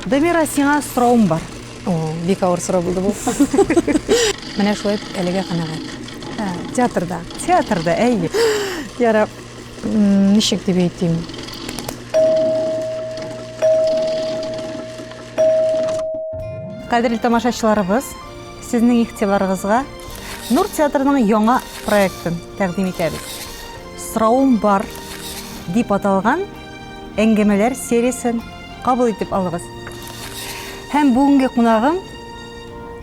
Дамира, сиңа соравым бар. О, бик авыр сорау булды бу. Менә шулай итеп әлегә канәгать. Ә, Театрда. Театрда, әйе. Ярап, м, ничек дип әйтим? Кадерле тамашачыларыбыз, сезнең игътибарыгызга Нур театрының яңа проектын тәкъдим итәбез. Соравым бар дип аталган Әңгәмәләр сериясен кабул итеп алыгыз. Һәм бүгенге кунагым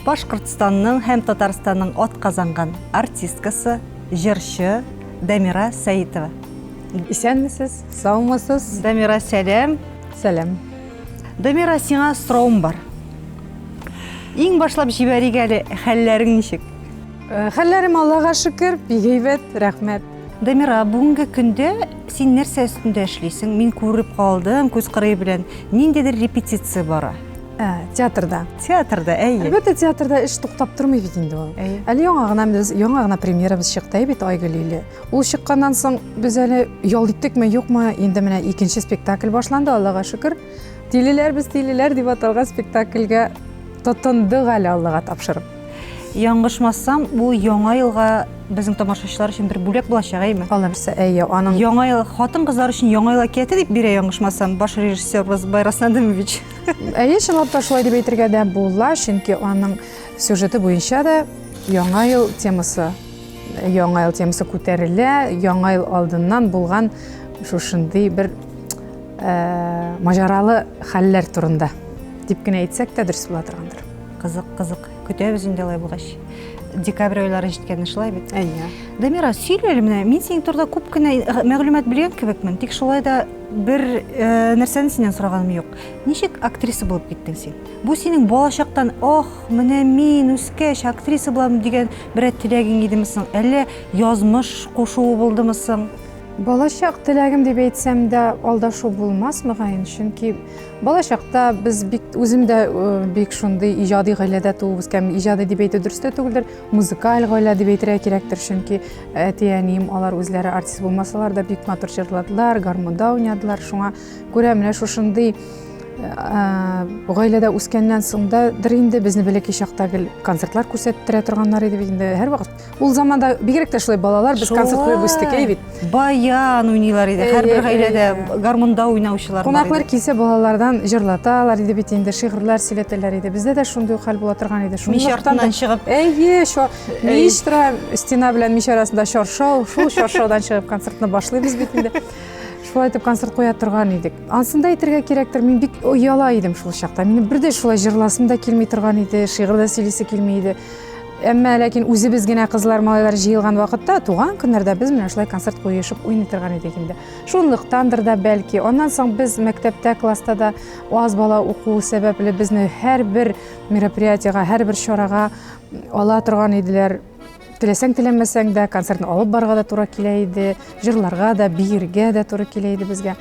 Башкортстанның һәм Татарстанның атказанган артисткасы, җырчы Дамира Сәитова. Исәнмесез, саумысыз? Дамира, сәлам. Сәлам. Дамира, сиңа сораум бар. Иң башлап җибәрик әле, хәлләрең ничек? Э, хәлләрем Аллага шөкер, бик әйбәт, рәхмәт. Дамира, бүгенге көндә син нәрсә өстендә эшлисең? Мин күреп калдым, күз кырые белән ниндидер репетиция бара. Ә, театрда. Театрда, әйе. Әлбәттә, театрда эш туктап тормый бит инде ул. Әйе. Әле яңа гына без яңа гына премьерабыз чыкты бит Айгөл иле. Ул чыкканнан соң без әле ял иттекме, юкмы, инде менә икенче спектакль башланды, Аллага шөкер. Тилеләр без тилеләр дип аталган спектакльгә тотындык әле Аллага тапшырып. Яңгышмасам, бу яңа елга безнең тамашачылар өчен бер бүләк булачак, әйме? Алла нәрсә, әйе, аның яңа ел хатын-кызлар өчен яңа ел әкияте дип бирә яңгышмасам, баш режиссерыбыз Байрас Надымович. Әйе, чынлап та шулай дип әйтергә дә була, чөнки аның сюжеты буенча да яңа ел темасы яңа ел темасы күтәрелә яңа ел алдыннан булган шушындый бер э, маҗаралы хәлләр турында дип кенә әйтсәк тә дөрес була торгандыр Кызык, кызык. Көтәбез инде алай булгач. Декабрь айлары җиткәнне шулай бит. Әйе. Дамира, сөйлә әле менә, мин синең турыда күп кенә э, мәгълүмат белгән кебекмен, тик шулай да бер э, нәрсәне синнән сораганым юк. Ничек актриса булып киттең син? Бу синең балачактан, ох, менә мин үскәч актриса булам дигән берәр теләгең идеме соң? Әллә язмыш кушуы булдымы соң? Балачак теләгем дип әйтсәм дә алдашу булмас мөгаен, чөнки Бала чакта без бик үзем дә бик шундый иҗади гаиләдә туып үскән. Иҗади дип әйтү дөрес тә түгелдер. Музыкаль гаилә дип әйтергә кирәктер, чөнки әти-әнием алар үзләре артист булмасалар да бик матур җырладылар, гармунда уйнадылар. Шуңа күрә менә шушындый гаиләдә үскәннән соң да дыр инде безне бәләкәй чакта гел концертлар күрсәттерә торганнар иде бит инде һәрвакыт Ул заманда бигрәк тә шулай балалар без концерт куеп үстек әй бит. Баян уйныйлар иде. Һәрбер гаиләдә гармунда уйнаучылар. Кунаклар килсә балалардан җырлаталар иде бит инде, шигырьләр сөйләтәләр иде. Бездә дә шундый хәл була торган иде. Мич артыннан чыгып. Әйе, шо мич тора, стена белән мич арасында чаршау, шул чаршаудан чыгып концертны башлыйбыз бит инде. шулай итеп концерт куя торган идек анысында әйтергә кирәктер мин бик ояла идем шул чакта минем бер дә шулай жырласым да килми торган иде шигырь дә сөйлисе килми иде Әмма ләкин үзебез генә кызлар, малайлар җыелган вакытта, туган көннәрдә без менә шулай концерт куешып уйный торган идек инде. Шунлыктандыр да бәлки. Аннан соң без мәктәптә, класста да аз бала уку сәбәпле безне һәрбер мероприятиега, һәрбер чарага ала торган иделәр. Теләсәң теләмәсәң дә концертны алып барга да туры килә иде, җырларга да, биергә дә туры килә иде безгә.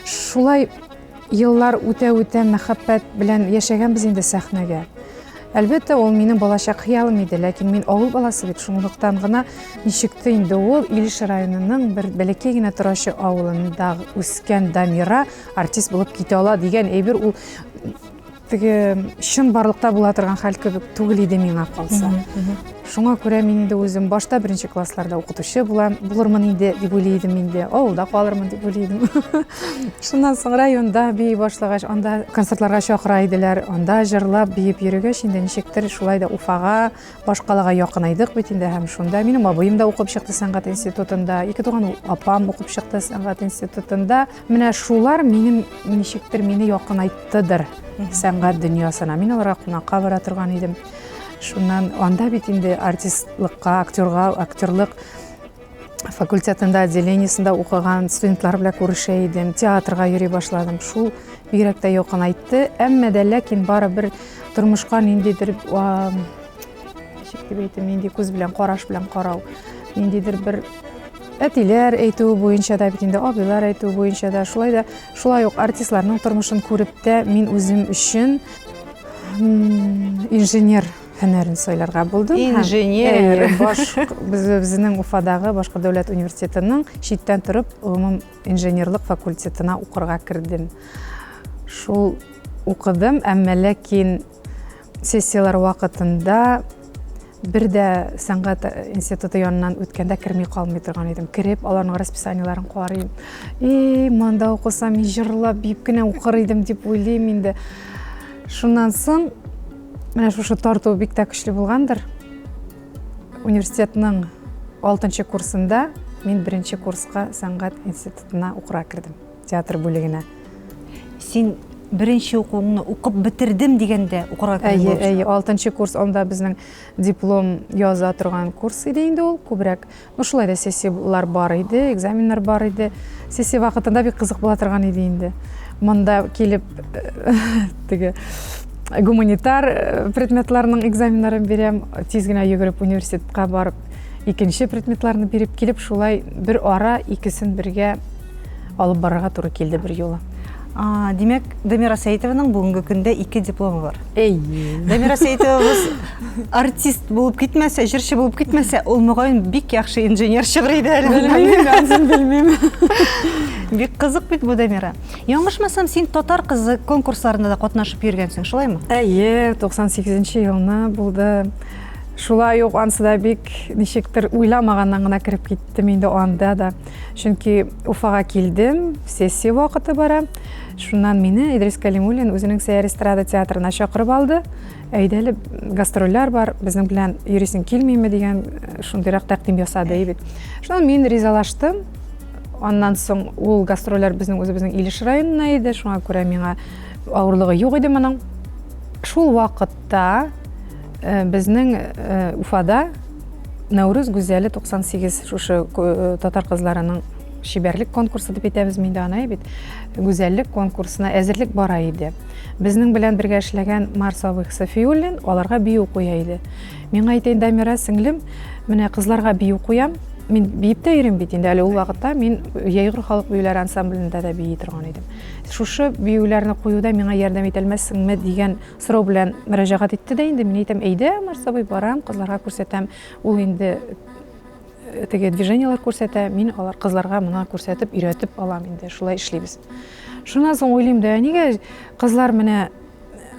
Шулай Еллар үтә-үтә мәхәббәт белән яшәгәнбез инде сәхнәгә. Әлбәттә, ул минем балачак хыялым иде, ләкин мин авыл баласы бит, шунлыктан гына ничекте инде ул Илеш районының бер бәләкәй генә торачы авылында үскән Дамира артист булып китә ала дигән әйбер ул Теге чын барлыкта була торган хәл кебек түгел иде миңа калса. Шуңа күрә мин инде үзем башта беренче классларда укытучы булам, булырмын инде дип уйлый идем инде, авылда калырмын дип уйлый идем. Шуннан соң районда бии башлагач, анда концертларга чакыра иделәр, анда җырлап биеп йөрегәч, инде ничектер шулай да Уфага, башкалага якынайдык бит инде һәм шунда минем абыем да укып чыкты сәнгать институтында, ике туган апам укып чыкты сәнгать институтында. Менә шулар минем ничектер мине якынайттыдыр сәнгать дөньясына. Мин аларга кунакка бара торган идем. Шуннан анда бит инде артистлыкка, актерга, актерлык факультетында, отделениесында укыган студентлар белән күрешә идем, театрга йөри башладым. Шул бигрәк тә якынайтты. Әмма дә ләкин бары бер тормышка ниндидер Ничек дип әйтим, нинди күз белән, караш белән карау, ниндидер бер әтиләр әйтүе буенча да бит инде абыйлар әйтүе буенча да шулай да шулай ук артистларның тормышын күреп тә мин үзем өчен инженер һөнәрен сайларга булдым. Инженер. Безнең Уфадагы башка дәүләт университетының читтән торып гомум инженерлык факультетына укырга кердем. Шул укыдым, әмма ләкин Сессияләр вакытында бер дә сәнгать институты янынан үткәндә керми калмый торган идем. Кереп, аларның расписаниеләрен карыйм. И, монда укысам, мин җырлап, биеп кенә укыр идем дип уйлыйм инде. Шуннан соң менә шушы тарту бик тә көчле булгандыр. Университетның 6 курсында мин беренче курска сәнгать институтына укыра кердем. театр бүлегенә. Син беренче укуыңны укып бетердем дигәндә укырга кердең Әйе, әйе, алтынчы курс, анда безнең диплом яза торган курс иде инде ул, күбрәк. Ну, шулай да сессияләр бар иде, экзаменнар бар иде. Сессия вакытында бик кызык була торган иде инде. Монда килеп теге гуманитар э, предметларның экзаменнарын бирәм, тиз генә йөгереп университетка барып икенче предметларны биреп килеп, шулай бер ара икесен бергә алып барырга туры килде бер юлы. А, димәк, Дамира Сәйтованың бүгенге көндә ике дипломы бар. Әй. Дамира Сәйтовабыз артист булып китмәсә, җырчы булып китмәсә, ул мөгаен бик яхшы инженер чыгыр иде әле. Белмим, белмим. Бик кызык бит бу Дамира. Яңышмасам, син татар кызы конкурсларында да катнашып йөргәнсең, шулаймы? Әйе, 98 елны булды. Шулай ук ансы да бик ничектер уйламаганнан гына кереп киттем инде анда да. Чөнки Уфага килдем, сессия вакыты бара. Шуннан мине Идрис Калимуллин үзенең Сәяр эстрада театрына чакырып алды. Әйдәле гастрольләр бар, безнең белән йөрисең килмиме дигән э, шундыйрак тәкъдим ясады и бит. Шуннан мин ризалаштым. Аннан соң ул гастрольләр безнең үзебезнең Илеш районына иде, шуңа күрә миңа авырлыгы юк иде моның. Шул вакытта Безнең Уфада Нәүрүз гүзәле 98 шушы татар кызларының чибәрлек конкурсы дип әйтәбез мин дә аны бит гүзәллек конкурсына әзерлек бара иде безнең белән бергә эшләгән марс абый сафиуллин аларга бию куя иде миңа әйтәйін дамира сеңлем менә кызларга бию куям мин биеп тә йөрим бит инде әле ул вакытта мин яйгыр халык биюләре ансамблендә дә бии торган идем шушы биюләрне куюда миңа ярдәм итәлмәссеңме дигән сорау белән мөрәҗәгать итте дә инде. Мин әйтәм, әйдә, Марсабый, барам, кызларга күрсәтәм. Ул инде э, теге движениелар күрсәтә, мин алар кызларга моны күрсәтеп, өйрәтеп алам инде. Шулай эшлибез. Шуннан соң уйлыйм да, нигә кызлар менә э,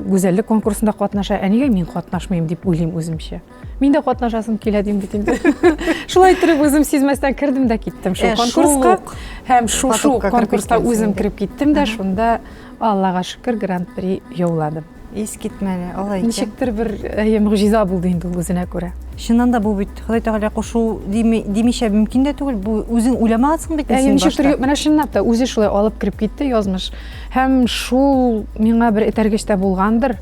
гүзәллек конкурсында катнаша, ә нигә мин катнашмыйм дип уйлыйм үземчә. Мин дә катнашасым килә дим бит инде. Шулай торып үзем сизмәстән кердем дә киттем шул конкурска. Һәм шул шул конкурска үзем кереп киттем дә, шунда Аллага шөкер гран-при яуладым. Ис китмәле, алай икән. Ничектер бер әйе мөгъҗиза булды инде ул үзенә күрә. Чыннан да бу бит Ходай Тәгалә кушу димичә мөмкин дә түгел. Бу үзең уйламагансың бит син башта. Ничектер менә чынлап та үзе шулай алып кереп китте язмыш. Һәм шул миңа бер этәргеч тә булгандыр.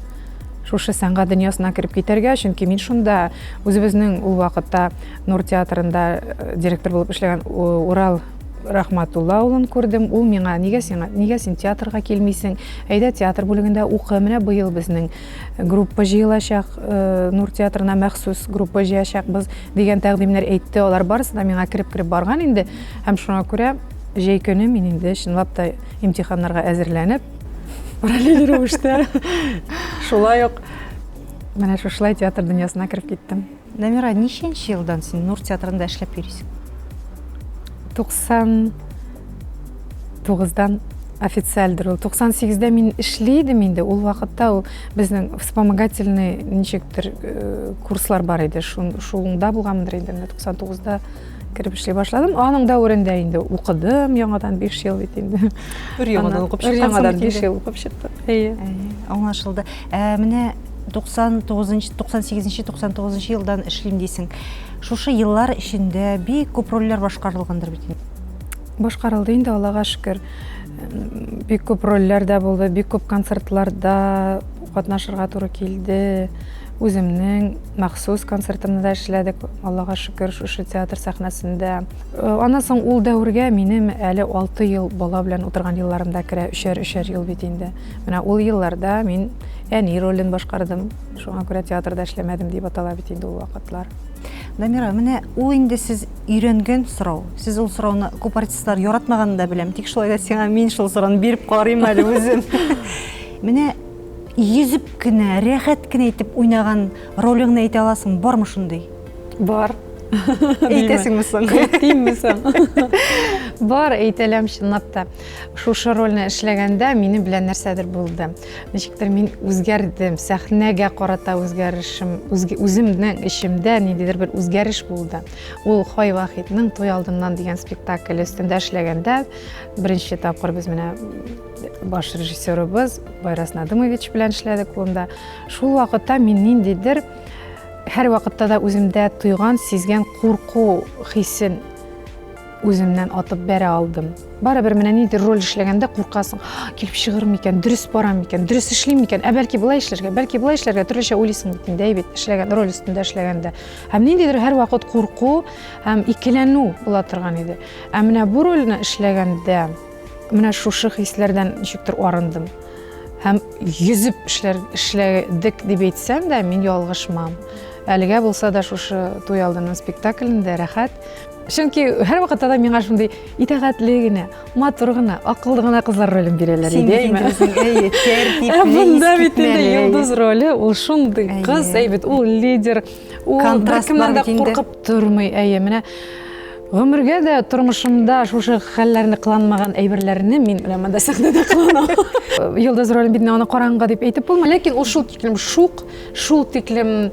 шушы сәнгать дөньясына кереп китәргә, чөнки мин шунда үзебезнең ул вакытта Нур театрында э, директор булып эшләгән Урал Рахматулла улын күрдем. Ул миңа, нигә сиңа, нигә син театрга килмисең? Әйдә театр бүлегендә укы. Менә быел безнең группа җыелачак, э, Нур театрына махсус группа җыячакбыз дигән тәкъдимнәр әйтте. Алар барысы да миңа кереп-кереп барган инде. Һәм шуңа күрә җәй көне мин инде чынлап та имтиханнарга әзерләнеп, параллель рәвештә шулай ук менә шушылай театр дөньясына кереп киттем дамира ничәнче елдан син нур театрында эшләп йөрисең туксан тугыздан официальдер ул туксан сигездә мин эшли идем инде ул вакытта ул безнең вспомогательный ничектер э, курслар бар иде шунда булганмындыр инде менә туксан тугызда кереп эшли башладым аның дәверендә инде укыдым яңадан биш ел бит инде бер яңадан укып чыккансың яңадан биш ел укып чыктым әйе аңлашылды ә, менә 99 98 99 елдан эшлим дисең шушы еллар эчендә бик күп рольләр башкарылгандыр бит башкарылды инде аллага шөкер бик күп рольләр дә булды бик күп концертларда катнашырга туры килде Үземнең махсус концертымны да эшләдек, Аллага шөкер, шушы театр сәхнәсендә. Э, аннан соң ул дәвергә минем әле 6 ел бала белән утырган елларым да керә, өчәр-өчәр ел бит инде. Менә ул елларда мин әни ролен башкардым, шуңа күрә театрда эшләмәдем дип атала бит инде ул вакытлар. Дамира, менә ул инде сез өйрәнгән сорау. Сез ул сорауны күп артистлар яратмаганын да беләм, тик шулай да сиңа мин шул сорауны биреп карыйм әле үзем. Менә Йөзеп кенә, рәхәт кенә итеп уйнаган ролеңне әйтә аласың, бармы шундый? Бар. Әйтәсеңме соң? Әйтимме соң? Бар, әйтәләм чынлап та. Шушы рольне эшләгәндә минем белән нәрсәдер булды. Ничектер мин үзгәрдем, сәхнәгә карата үзгәрешем, үземнең эчемдә ниндидер бер үзгәреш булды. Ул Хай Вахитның Туй алдыннан дигән спектакль өстендә эшләгәндә беренче тапкыр без менә баш режиссерыбыз Байрас Надымович белән эшләдек монда. Шул вакытта мин ниндидер һәр вакытта да үземдә тойган, сизгән курку хисен үземнән атып бәрә алдым. Барыбер менә нидер роль эшләгәндә куркасың, килеп чыгыр микән, дөрес бара микән, дөрес эшлим микән, ә бәлки былай эшләргә, бәлки былай эшләргә төрлечә уйлыйсың бит инде, әйбит эшләгән роль өстендә эшләгәндә. Һәм ниндидер һәр вакыт курку һәм икеләнү була торган иде. Ә менә бу рольне эшләгәндә Менә шушы хисләрдән ничектер арындым. Һәм йөзеп эшләр эшләдек дип әйтсәм дә, мин ялгышмам. Әлегә булса да шушы туй алдыннан спектаклендә рәхәт. Чөнки һәрвакытта да миңа шундый итәгатьле генә, матур гына, акыллы гына кызлар ролен бирәләр Син иде. инде үзең, әйе, тәртипле, Ә монда бит инде искитмәле, әйе. йолдыз роли, ул шундый Әйе. кыз, әйбәт, ул лидер, ул Контраст беркемнән бар дә бит инде. куркып тормый. Әйе, менә Гомергә дә тормышымда шушы хәлләрне кыланмаган әйберләрне мин менә монда сәхнәдә кыланам. Йолдыз ролен бит аны караңгы дип әйтеп булмый. Ләкин ул шул тиклем шук, шул тиклем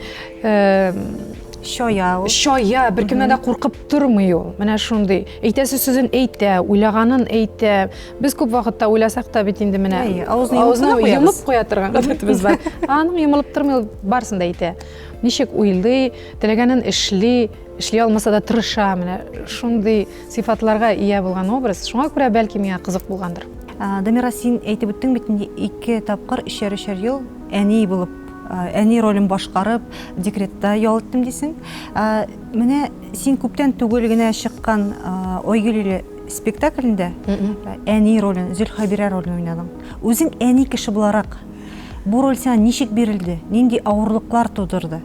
чая ул. Чая, беркемнән дә куркып тормый ул. Менә шундый. Әйтәсе сүзен әйтә, уйлаганын әйтә. Без күп вакытта уйласак та бит инде менә авызны йомып куя торган гадәтебез бар. Аның йомылып тормый, барысын да әйтә. Ничек уйлый, теләгәнен эшли. Эшли алмаса да тырыша, менә шундый сыйфатларга ия булган образ. Шуңа күрә бәлки миңа кызык булгандыр. Дамира, син әйтеп үттең бит инде ике тапкыр өчәр-өчәр ел әни булып, әни ролен башкарып, декретта ял иттем дисең. Менә син күптән түгел генә чыккан Ойгелиле спектаклендә әни ролен, Зөлхәбирә ролен уйнадың. Үзең әни кеше буларак, бу роль сиңа ничек бирелде, нинди авырлыклар тудырды?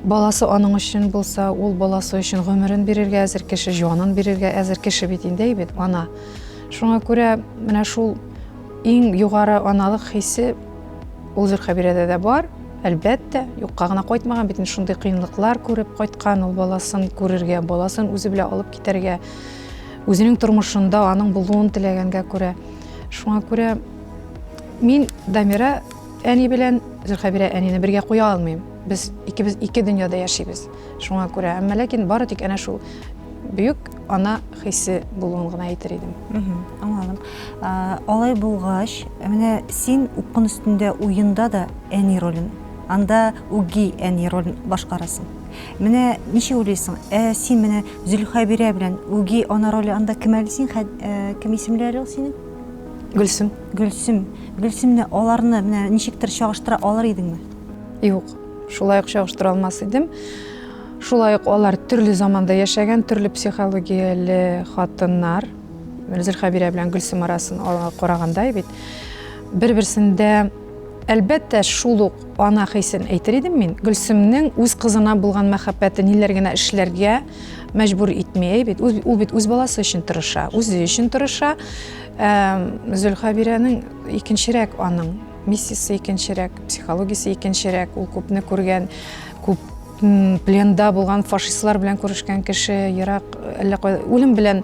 Баласы аның өчен булса, ул баласы өчен гомерен бирергә әзер кеше, җанын бирергә әзер кеше бит инде бит ана. Шуңа күрә менә шул иң югары аналык хисе ул Зөлхәбирәдә дә бар. Әлбәттә, юкка гына кайтмаган бит шундый кыенлыклар күреп кайткан ул баласын күрергә, баласын үзе белән алып китәргә, үзенең тормышында аның булуын теләгәнгә күрә. Шуңа күрә мин Дамира әни белән Зөлхәбирә әнине бергә куя алмыйм. Без икебез ике дөньяда яшибез. Шуңа күрә, әмма ләкин бары тик әнә шул бөек ана хисе булуын гына әйтер идем. Аңладым. Алай булгач, менә син укын өстендә уенда да әни ролен, анда үги әни ролен башкарасың. Менә ничек уйлыйсың, ә син менә Зөлхәбирә белән үги ана роле анда кем әле син, э, кем исемләре ул синең? Гөлсем. Гөлсем. Гөлсемне аларны менә ничектер чагыштыра алыр идеңме? Юк, шулай ук чагыштыра алмас идем. Шулай ук алар төрле заманда яшәгән, төрле психологияле хатыннар. Зөлхәбирә белән Гөлсем арасын караганда бит бер-берсендә әлбәттә шул ук ана хисен әйтер идем мин. Гөлсемнең үз кызына булган мәхәббәте ниләр генә эшләргә мәҗбүр итми бит. Ул бит үз баласы өчен тырыша, үзе өчен тырыша. Зөлхәбирәнең икенчерәк аның Миссисы икенчерәк, психологиясе икенчерәк, ул күпне күргән, күп пленда булган фашистлар белән күрешкән кеше ерак әллә кай үлем белән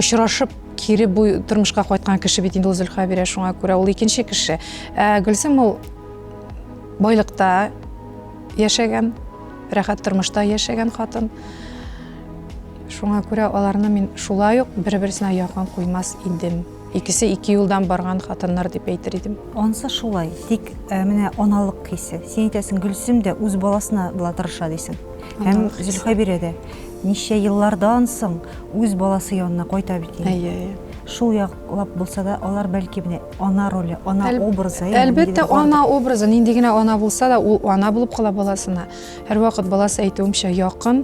очрашып кире бу тормышка кайткан кеше бит инде ул зөлхә бирә шуңа күрә ул икенче кеше ә гөлсем ул байлыкта яшәгән рәхәт тормышта яшәгән хатын шуңа күрә аларны мин шулай ук бер берсенә якын куймас идем Икесе ике юлдан барган хатыннар дип әйтер идем. Ансы шулай, тик э, менә аналык хисе. Син әйтәсең, Гөлсем дә үз баласына була тырыша дисең. Һәм Зөлхәбирә дә ничә еллардан соң үз баласы янына кайта бит инде. Әйе, әйе. Шул яклап булса да, алар бәлки менә ана роле, ана Әл, образы. Әлбәттә, ана образы, нинди генә ана булса да, ул ана булып кала баласына. Һәрвакыт баласы әйтүемчә якын,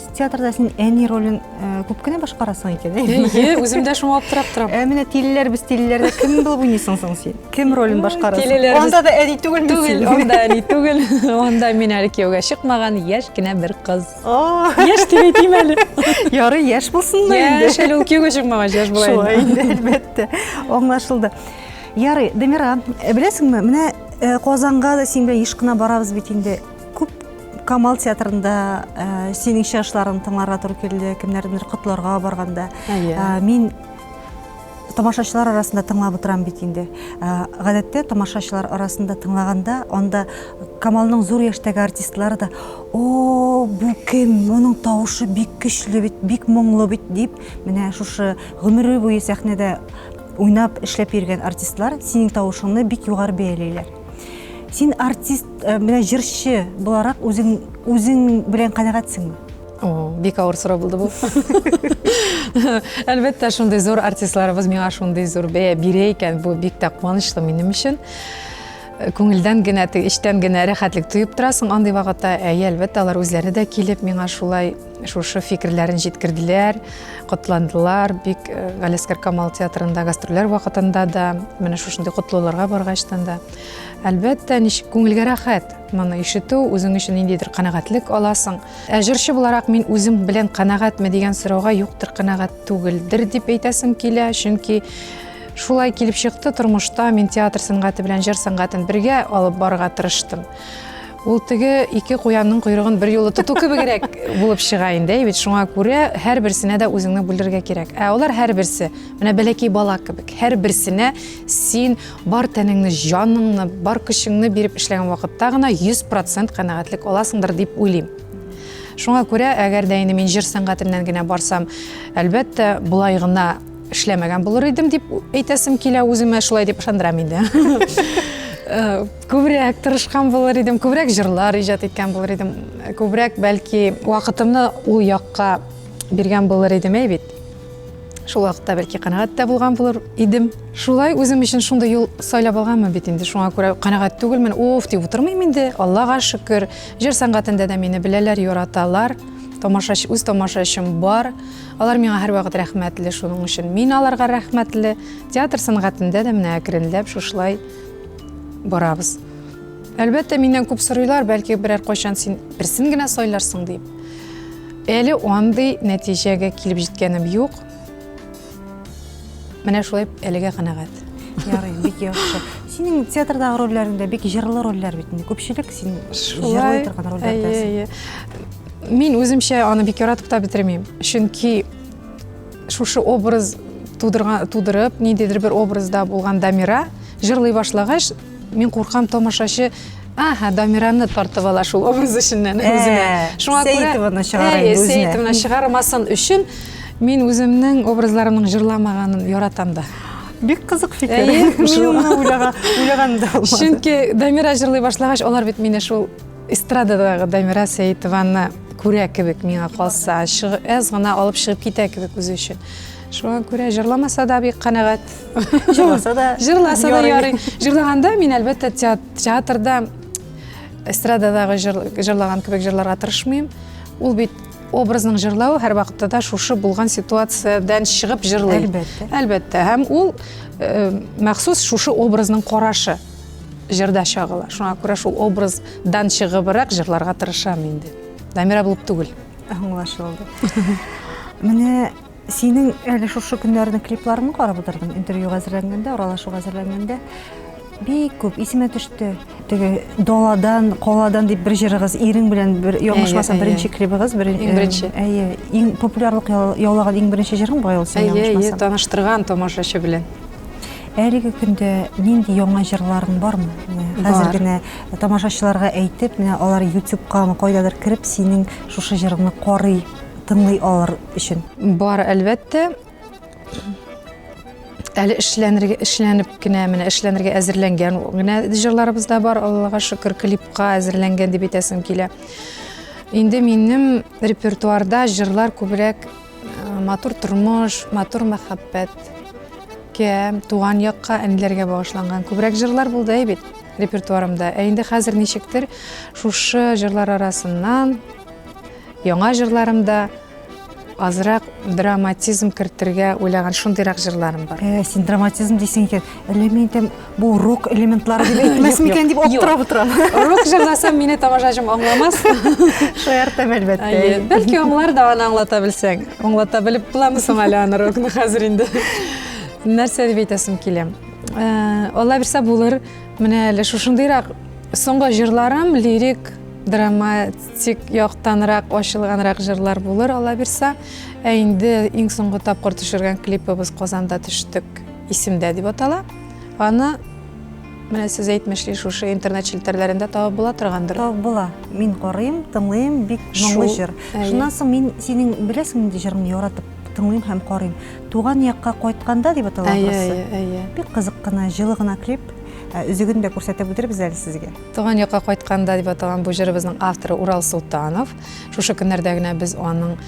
театрда син әни ролен э, күп кенә башкарасың икән әйе үзем дә шуңа аптырап торам ә менә тилеләр без тилеләрдә кем булып уйныйсың соң син кем ролен башкарасың анда да әни түгел түгел анда әни түгел анда мин әле кияүгә чыкмаган яшь кенә бер кыз яшь дип әйтим әле ярый яшь булсын да инде яшь әле ул кияүгә чыкмагач яшь була шулай инде әлбәттә аңлашылды ярый дамира беләсеңме менә э, казанга да син белән еш кына барабыз бит инде Күп Камал театрында ә, синең чыгышларың тыңларга туры килде, кемнәрдер котларга барганда. Ә, мин тамашачылар арасында тыңлап отырам бит инде. Ә, гадәттә тамашачылар арасында тыңлаганда, анда Камалның зур яшьтәге артистлары да, "О, бу кем? Моның тавышы бик көчле бит, бик моңлы бит" дип, менә шушы гомере буе сәхнәдә уйнап, эшләп йөргән артистлар синең тавышыңны бик югары бәялиләр. Син артист, э, менә җырчы буларак үзең үзең белән канәгатьсеңме? О, бик авыр сорау булды бу. Әлбәттә, шундый зур артистларыбыз миңа шундый зур бәя бирә икән, бу бик тә куанычлы минем өчен. Э, күңелдән генә, эчтән генә рәхәтлек тоеп торасың андый вакытта. Әйе, әлбәттә, алар үзләре дә килеп миңа шулай Шушы фикерләрен җиткерделәр, котландылар. Бик э, Галискар Камал театрында гастрольләр вакытында да, менә шушындый котлауларга баргачтан да. Әлбәттә, ничек күңелгә рәхәт. Моны ишетү, үзең өчен ниндидер канәгатьлек аласың. Ә җырчы буларак мин үзем белән канәгатьме дигән сорауга юктыр канәгать түгелдер дип әйтәсем килә, чөнки Шулай килеп чыкты тормышта, мин театр сәнгате белән җыр сәнгатен бергә алып барырга тырыштым. Ул теге ике куянның койрыгын бер юлы тоту кебегрәк булып чыга инде, бит шуңа күрә һәр берсенә дә үзеңне бүлдерергә кирәк. Ә алар һәр берсе, менә бәләкәй бала кебек, һәр берсенә син бар тәнеңне, җаныңны, бар көчеңне биреп эшләгән вакытта гына 100% канәгатьлек аласыңдыр дип уйлыйм. Шуңа күрә, әгәр дә инде мин җыр сәнгатеннән генә барсам, әлбәттә, болай гына эшләмәгән булыр идем дип әйтәсем килә үземә, шулай дип ышандырам инде. Күбрәк тырышкан булыр идем, күбрәк җырлар иҗат иткән булыр идем, күбрәк бәлки вакытымны ул якка биргән булыр идем әй бит. Шул вакытта бәлки канәгать тә булган булыр идем. Шулай үзем өчен шундый юл сайлап алганмын бит инде. Шуңа күрә канәгать түгелмен. Уф, дип утырмыйм инде. Аллага шөкер. Җыр сәнгатендә дә мине беләләр, яраталар. Тамашач, үз тамашачым бар. Алар миңа һәрвакыт рәхмәтле шуның өчен. Мин аларга рәхмәтле. Театр сәнгатендә дә менә әкренләп шушылай барабыз. Әлбәттә, миннән күп сорыйлар, бәлки берәр кайчан син берсен генә сайларсың дип. Әле андый нәтиҗәгә килеп җиткәнем юк. Менә шулай әлегә канәгать. Ярый, бик яхшы. Синең театрдагы рольләреңдә бик җырлы рольләр бит инде. Күпчелек син җырлый торган рольләрдәсең. Мин үземчә аны бик яратып та бетермим. Чөнки Шушы образ тудырган, тудырып, ниндидер бер образда булган Дамира җырлый башлагач, мин куркам тамашачы Ага, Дамираны тартып ала шул образ эченнән э, үзенә. Шуңа күрә Сәйтованы чыгара э, инде үзенә. Сәйтованы чыгармасын өчен мин үземнең образларымның җырламаганын яратам да. Бик кызык фикер. Мин уйлаган да булмады. Чөнки Дамира җырлый башлагач, алар бит мине шул Эстрададагы Дамира Сәетованы күрә кебек миңа калса, әз гына алып чыгып китә кебек үзе өчен. Шуңа күрә җырламаса да бик канәгать. Җырласа да. Җырласа да ярый. Җырлаганда мин әлбәттә театрда эстрададагы җырлаган кебек җырларга тырышмыйм. Ул бит образның җырлау һәр вакытта да шушы булган ситуациядән чыгып җырлый. Әлбәттә. Әлбәттә. Һәм ул э, махсус шушы образның карашы. Җырда чагыла. Шуңа күрә шул образдан чыгыбрак җырларга тырышам инде. Дамира булып түгел. Аңлашылды. Менә синең әле шушы көннәрне клипларыңны карап утырдым, интервью әзерләнгәндә, аралашу әзерләнгәндә бик күп исемә төште. Теге Доладан, Коладан дип бер җырыгыз, ирең белән бер ягышмаса беренче клибыгыз, бер иң беренче. Әйе, иң популярлык яулаган иң беренче җырың бай ул син ягышмаса. Әйе, таныштырган тамашачы белән. Әлеге көндә нинди яңа җырларың бармы? Хәзер генә тамашачыларга әйтеп, менә алар ютубка ма кайдадыр кереп, синең шушы җырыңны карый, тыңлый алыр өчен. Бар, әлбәттә. Әле эшләнергә, эшләнеп кенә, менә эшләнергә әзерләнгән генә җырларыбыз да бар, Аллага шөкер, клипка әзерләнгән дип әйтәсем килә. Инде минем репертуарда җырлар күбрәк Матур тормыш, матур мәхәббәт, кем, туган якка, әниләргә багышланган. Күбрәк җырлар булды әй бит репертуарымда. Ә инде хәзер ничектер шушы җырлар арасыннан яңа җырларымда азрак драматизм кертергә уйлаган шундыйрак җырларым бар. Э, син драматизм дисең икән. Әллә мин әйтәм, Бу рок элементлары дип әйтмәс микән дип аптырап утырам. Рок җырласам, мине тамашачым аңламас. Шаяртам әлбәттә. Әйе, бәлки аңлар да аны аңлата белсәң. Аңлата белеп буламы соң әле аны рокны хәзер инде? Нәрсә дип әйтәсем килә? Э, Алла бирсә булыр, менә әле шушындыйрак соңгы җырларым лирик драматик яктанрак ачылганрак җырлар булыр алла бирса ә инде иң соңгы тапкыр төшергән клипыбыз казанда төштек исемдә дип атала Аны менә сез әйтмешли шушы интернет челтәрләрендә табып була торгандыр. Табып була. Мин карыйм, тыңлыйм, бик моңлы җыр. Шуннан соң мин синең беләсең нинди җырыңны яратып тыңлыйм һәм карыйм. Туган якка кайтканда дип атала анысы. Бик кызык кына, җылы гына клип. Ә, Үзеген дә күрсәтеп үтербез әле сезгә. Туган якка кайтканда дип аталган бу җырыбызның авторы Урал Султанов. Шушы көннәрдә генә без аның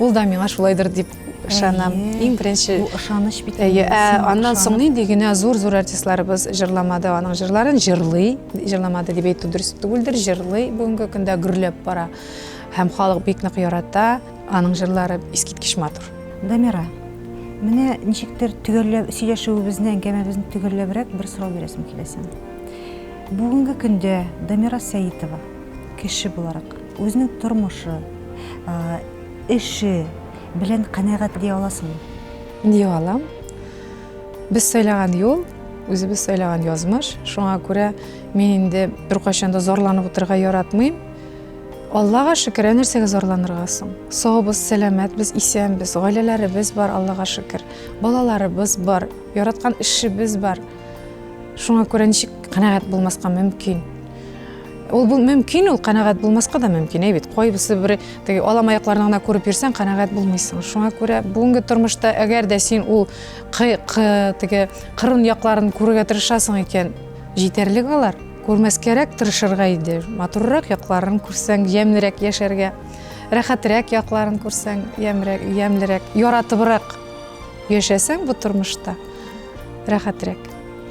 ул да миңа шулайдыр дип ышанам иң беренче бу ышаныч бит әйе ә, аннан соң нинди генә зур зур артистларыбыз җырламады аның җырларын җырлый җырламады дип әйтү дөрес түгелдер җырлый бүгенге көндә гөрләп бара һәм халык бик нык ярата аның җырлары искиткеч матур дамира менә ничектер төгәлләп сөйләшүебезне әңгәмәбезне төгәлләбрәк бер сорау бирәсем килә сиңа бүгенге көндә дамира сәитова Кеше буларак, үзенең тормышы, эше белән канәгать ди аласыңмы? Ди алам. Без сайлаган юл, үзебез сайлаган язмыш. Шуңа күрә мин инде беркайчан да зарланып утырырга яратмыйм. Аллага шөкер, ә нәрсәгә зарланырга соң? Саубыз, сәламәтбез, исәнбез, гаиләләребез бар, Аллага шөкер. Балаларыбыз бар, яраткан эшебез бар. Шуңа күрә ничек канәгать булмаска мөмкин? Ул бу мөмкин, ул канәгать булмаска да мөмкин, әй бит, кайбысы бер теге алам аякларны гына күреп йөрсәң, канәгать булмыйсың. Шуңа күрә бүгенге тормышта әгәр дә син ул теге кырын якларын күрергә тырышасың икән, җитәрлек алар. Күрмәскәрәк тырышырга иде. Матуррак якларын күрсәң, ямьлерәк яшәргә, рәхәтрәк якларын күрсәң, ямьлерәк, яратыбрак яшәсәң бу тормышта рәхәтрәк.